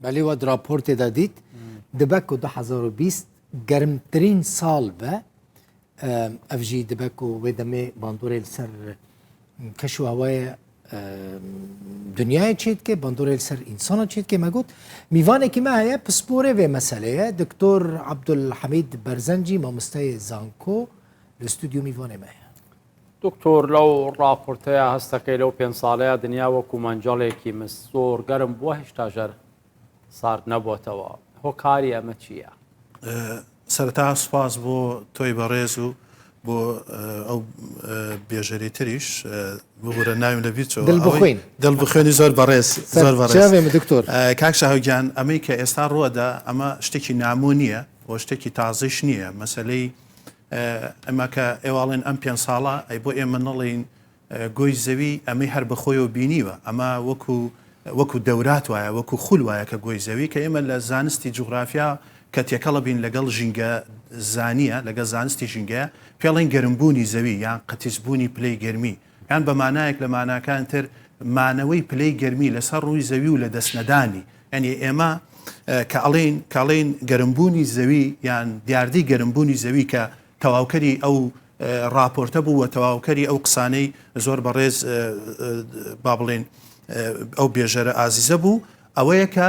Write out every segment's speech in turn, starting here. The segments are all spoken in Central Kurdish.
بەلی وەد راپۆرتێ دا دیت دبەک و دە هەزار و بیست گەرمترین ساڵ بە ئەفژی دبەک و وێ دەمێ باندۆرێل سەر کەش و هەوایە دنیای چیت کە باندۆرێل سەر ئینسانە چیت کە مەگوت میوانێکی مە هەیە پسپۆرێ وێ مەسلەیە دکتۆر عبدول حەمید بەرزەنجی مامۆستای زانکۆ لە ستودیو میوانێ مە هەیە دکتۆر لەو ڕاپۆرتەیە هەستەکەی لەو پێنج ساڵەیە دنیا وەکو مەنجەڵێکی مس زۆر گەرم بووە هێشتا ژەر سارد نەبووتەوە هۆکاری ئەمە چییە؟ سەرتا سوپاس بۆ تۆی بەڕێز و بۆ ئەو بێژەری تریش ببورە ناویم لە بیرچەوە دڵبخوێن دڵبخوێنی زۆر بەڕێز زۆر بەڕێز دکتۆر کاک شاهوگیان ئەمەی کە ئێستا ڕووەدا ئەمە شتێکی نامۆ نییە بۆ شتێکی تازەش نییە مەسلەی ئەمە کە ئێواڵێن ئەم پێنج ساڵە ئەی بۆ ئێمە نەڵێین گۆی زەوی ئەمەی هەر بەخۆیەوە بینیوە ئەمە وەکو وەکو دەورات وایە وەکو خول وایە کە گۆی زەوی کە ئێمە لە زانستی جوغرافیا کە تێکەڵە بین لەگەڵ ژینگە زانیە لەگە زانستی ژینگەیە پێڵین گەرمبوونی زەوی یان قەتیسبوونی پلەی گەرمی یان بە مانایەک لە ماناکان تر مانەوەی پلەی گەرمی لە سەر ڕووی زەوی و لە دەست نەدانی یانی ئێمە کە ئەڵێین کاڵین گەرم بوونی زەوی یان دیاردەی گەرم بوونی زەوی کە تەواوکەری ئەو ڕاپۆرتە بوو و تەواوکەری ئەو قسانەی زۆر بەڕێز با بڵێن ئەو بێژەرە ئازیزە بوو ئەوەیە کە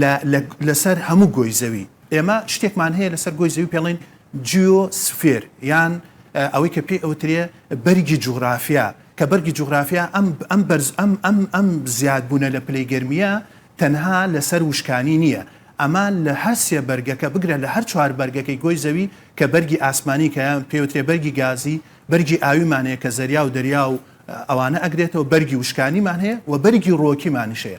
لە لە لەسەر هەموو گۆی زەوی ئێمە شتێکمان هەیە لەسەر گۆی زەوی پێڵێن جیۆ سفێر یان ئەوەی کە پێی ئەوترێ بەرگی جوغرافیا کە بەرگی جوغرافیا ئەم ئەم بەرز ئەم ئەم ئەم زیاد بوونە لە پلەی گەرمیە تەنها لەسەر وشکانی نییە ئەمە لە هەر سێ بەرگەکە بگرە لە هەر چوار بەرگەکەی گۆی زەوی کە بەرگی ئاسمانی کە یان پێوترێ بەرگی گازی بەرگی ئاویمان هەیە کە زەریا و دەریا و ئەوانە ئەگرێتەوە بەرگی وشکانیمان هەیە و بەرگی ڕۆکیمانیش هەیە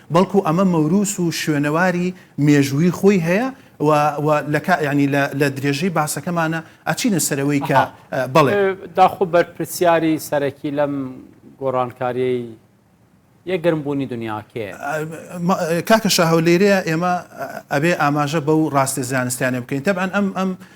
بەڵکو ئەمە مەوروس و شوێنەواری مێژووی خۆی هەیە و و لە کا یانی لە لە درێژەی باسەکەمانە ئەچینە سەر ئەوەی کە ئەها بەڵێ. داخۆ بەرپرسیاری سەرەکی لەم گۆڕانکاریەی یە گەرم بوونی دونیا کێیە؟ ئەم کاکە شاهۆ لێرەیە ئێمە ئەبێ ئاماژە بەو ڕاستیە زانستیانە بکەین تەبعەن ئەم ئەم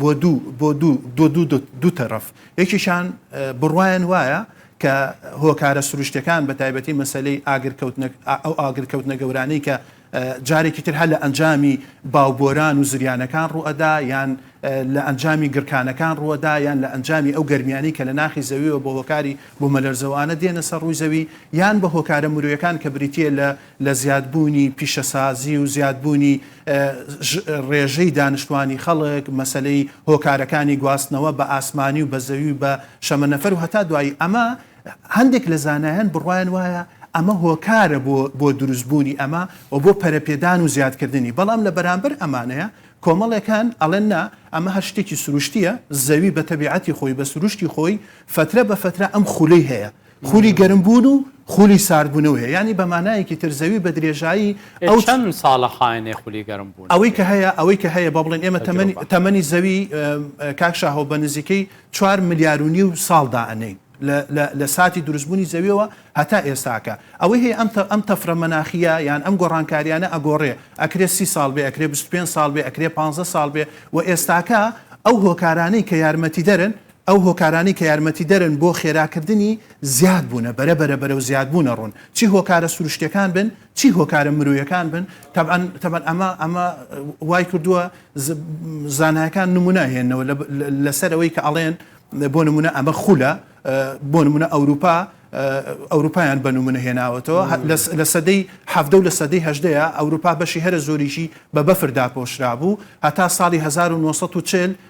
بۆ دوو بۆ دوو دۆ دوو دۆ دوو تەرەف یەکیشان بڕوایان وایە کە هۆکارە سروشتەکان بە تایبەتی مەسلەی ئاگرکەوتنە ئەو ئاگرکەوتنە گەورانەی کە جارێکی تر هەر لە ئەنجامی باوبۆران و زریانەکان ڕوئەدا یان لە ئەنجامی گرکانەکان ڕوەدا یان لە ئەنجامی ئەو گەرمیانی کە لە ناخی زەویەوە بۆ هۆکاری بۆ مەلەرزەوانە دێنە سەر ڕووی زەوی یان بە هۆکارە مرۆیەکان کە بریتە لە لە زیادبوونی پیشەسازی و زیادبوونی ڕێژەی دانیشتوانی خەڵک، مەسەلەی هۆکارەکانی گواستنەوە بە ئاسمانی و بە زەوی و بە شەمەنەفەر و هەتا دوایی، ئەمە هەندێک لە زانایان بڕوایان وایە ئەمە هۆکارە بۆ بۆ دروستبوونی ئەمە و بۆ پەرەپێدان و زیادکردنی، بەڵام لە بەرامبەر ئەمانەیە کۆمەڵێکان ئەڵێن نا ئەمە هەر شتێکی سروشتییە، زەوی بە تەبیعەتی خۆی بە سروشتی خۆی فەترە بە فەترە ئەم خولەی هەیە، خولی گەرم بوون و خولی سارد بوونەوە هەیە یانی بە مانایەکی تر زەوی بە درێژایی ئەو چەن ساڵە خاێنێ خولی گەرم بوون ئەوەی کە هەیە ئەوەی کە هەیە بە بڵێن ئێمە تەمەنی تەمەنی زەوی کاک شاهۆ بە نزیکەی چوار ملیار و نیو ساڵ دائەنێین لە ساتی دروستبوونی زەویەوە هەتا ئێستاکە ئەوەی هەیە ئەم ئەم تەفرە مەناخیە یان ئەم گۆڕانکاریانە ئەگۆڕێ ئەکرێ سی ساڵ بێ ئەکرێ پێ ساڵ بێ ئەکرێ پ ساڵ بێ و ئێستاکە ئەو هۆکارانەی کە یارمەتی دەرن ئەو هۆکارانەی کە یارمەتیدەرن بۆ خێراکردنی زیاد بوونە، بەرە بەرە بەرەو زیاد بوونە ڕوون، چی هۆکارە سروشتیەکان بن، چی هۆکارە مرۆیەکان بن، تەبعەن تەبعەن ئەمە ئەمە وای کردووە ز زانایەکان نموونە ئەهێنەوە لە لەسەر ئەوەی کە ئەڵێن بۆ نموونە ئەمە خولە بۆ نموونە ئەوروپا ئەوروپایان بە نموونە هێناوەتەوە لە سەدەی حەڤدە و لە سەدەی هەژدەیە ئەوروپا بەشی هەرە زۆریشی بە بەفر داپۆشرا بوو هەتا ساڵی هەزار و نۆ سەد و چل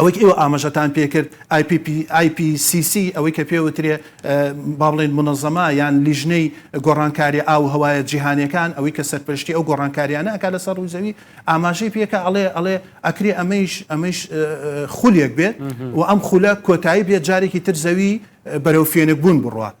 ئەوەی کە ئێوە ئاماژەتان پێ کرد، ئای پی پی، IPCC، ئەوەی کە پێ وترێ، با بڵێین مونەزەما یان لیژنەی گۆڕانکاری ئاو و هەوایە جیهانیەکان، ئەوەی کە سەرپەرشتی ئەو گۆڕانکاریانە ئەکات لە سەر ڕووی زەوی، ئاماژەی پێ کە ئەڵێ، ئەڵێ ئەکرێ ئەمەیش، ئەمەیش خولێک بێت و ئەم خولە کۆتایی بێت جارێکی تر زەوی بەرەو فێنک بوون بڕوات.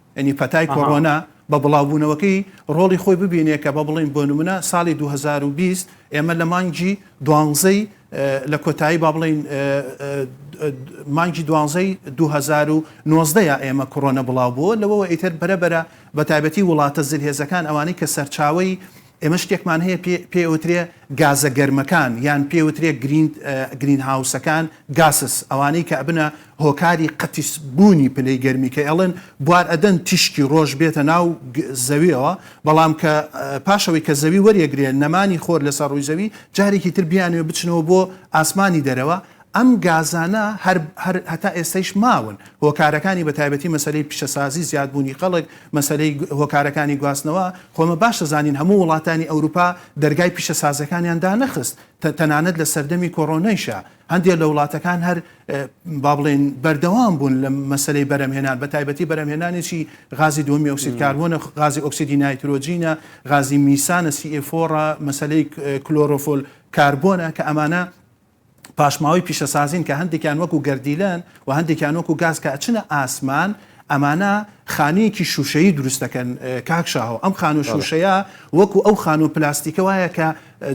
یانی پەتای کۆڕۆنا بە بڵاوبوونەوەکەی ڕۆڵی خۆی ببینێ کە با بڵێین بۆ نمونە ساڵی دوو هەزار و بیست ئێمە لە مانگی دوانزەی لە کۆتایی با بڵێین مانگی دوانزەی دوو هەزار و نۆزدە یا ئێمە کۆڕۆنە بڵاو بووە لەوەوە ئیتر بەرە بەرە بە تایبەتی وڵاتە زلهێزەکان ئەوانەی کە سەرچاوی ئێمە شتێکمان هەیە پێی ئەوترێ گازە گەرمەکان یان پێی ئەوترێ گرین هاوسەکان، Gases، ئەوانەی کە ئەبنە هۆکاری قەتیس بوونی پلەی گەرمی کە ئێڵێن بوار ئەدەن تیشکی ڕۆژ بێتە ناو زەویەوە بەڵام کە پاش ئەوەی کە زەوی وەریەگرێ نەمانی خۆر لەسەر ڕووی زەوی جارێکی تر بیانوێ بچنەوە بۆ ئاسمانی دەرەوە ئەم گازانە هەر هەر هەتا ئێستەیش ماون، هۆکارەکانی بەتایبەتی مەسەلەی پیشەسازی، زیادبوونی خەڵک، مەسەلەی هۆکارەکانی گواستنەوە، خۆ ئەمە باش دەزانین هەموو وڵاتانی ئەوروپا دەرگای پیشەسازەکانیان دانەخست، تەنانەت لە سەردەمی کۆرۆنەیشا هەندێ لە وڵاتەکان هەر با بڵێین بەردەوام بوون لە مەسەلەی بەرهەمهێنان، بەتایبەتی بەرهەمهێنانێکی غازی دووەمی ئۆکسید کاربۆنە، غازی ئۆکسیدی نایترۆجینە، غازی میسانە، سی ئێ فۆڕە، مەسەلەی کلۆرۆفۆل کاربۆنە کە ئەمانە پاشماوەی پیشەسازین کە هەندێکیان وەکو گەردیلەن و هەندێکیان وەکو گاز کە ئەچنە ئاسمان ئەمانە خانوویەکی شوشەیی دروست دەکەن کاک شاهۆ ئەم خانوو شوشەیە وەکو ئەو خانوو پلاستیکە وایە کە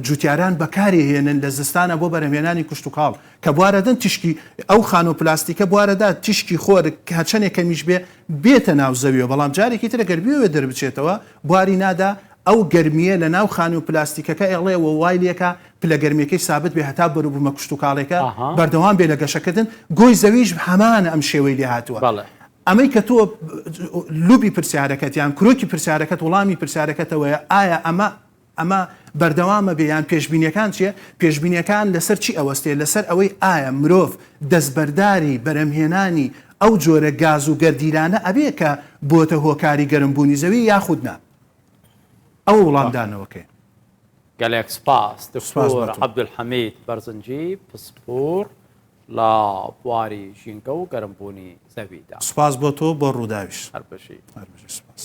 جوتیاران بەکاری هێنن لە زستانە بۆ بەرەمێنانی کوشتتوکاڵ کە بواردن تیشکی ئەو خانوو پلاستیکە بواردە تیشکی خۆرک هەچەنێک کەمیش بێ بێتە ناو زەویەوە بەڵام جارێکی ترە گەربیەوە دەربچێتەوە بواری نادا ئەو گەرمیە لە ناو خانوو پلاستیکەکە ئێڵێ وایلەکە پلە گەرمیەکەی سابت بێ هەتا بەروبومە کشتوکاڵێکە بەردەوام بێ لە گەشەکردن، گۆی زەویش هەمانە ئەم شێوەی لێ هاتوە. ئەمەی کە تۆ لوبی پرسیارەکەت یان کرۆکی پرسیارەکەت وڵامی پرسیارەکەتەوەیە ئایا ئەمە ئەمە بەردەوامە بێ یان پێشبینیەکان چیە؟ پێشبینیەکان لەسەر چی ئەوەستێ لەسەر ئەوەی ئایا مرۆڤ دەستبەرداری بەرهەمهێنانی ئەو جۆرە گاز و گەردیلانە ئەبێ کە بۆتە هۆکاری گەرم بونی زەوی یاخود نا؟ ئەوە وڵامدانەوەکەیە. گەلێک سپاس دکتۆر عەبدولحەمید بەرزنجی پسپۆڕ لە بواری ژینگە و گەرمبوونی زەویدا. سپاس بۆ تۆ و بۆ ڕووداویش. هەر بژی. هەر بژی سپاس.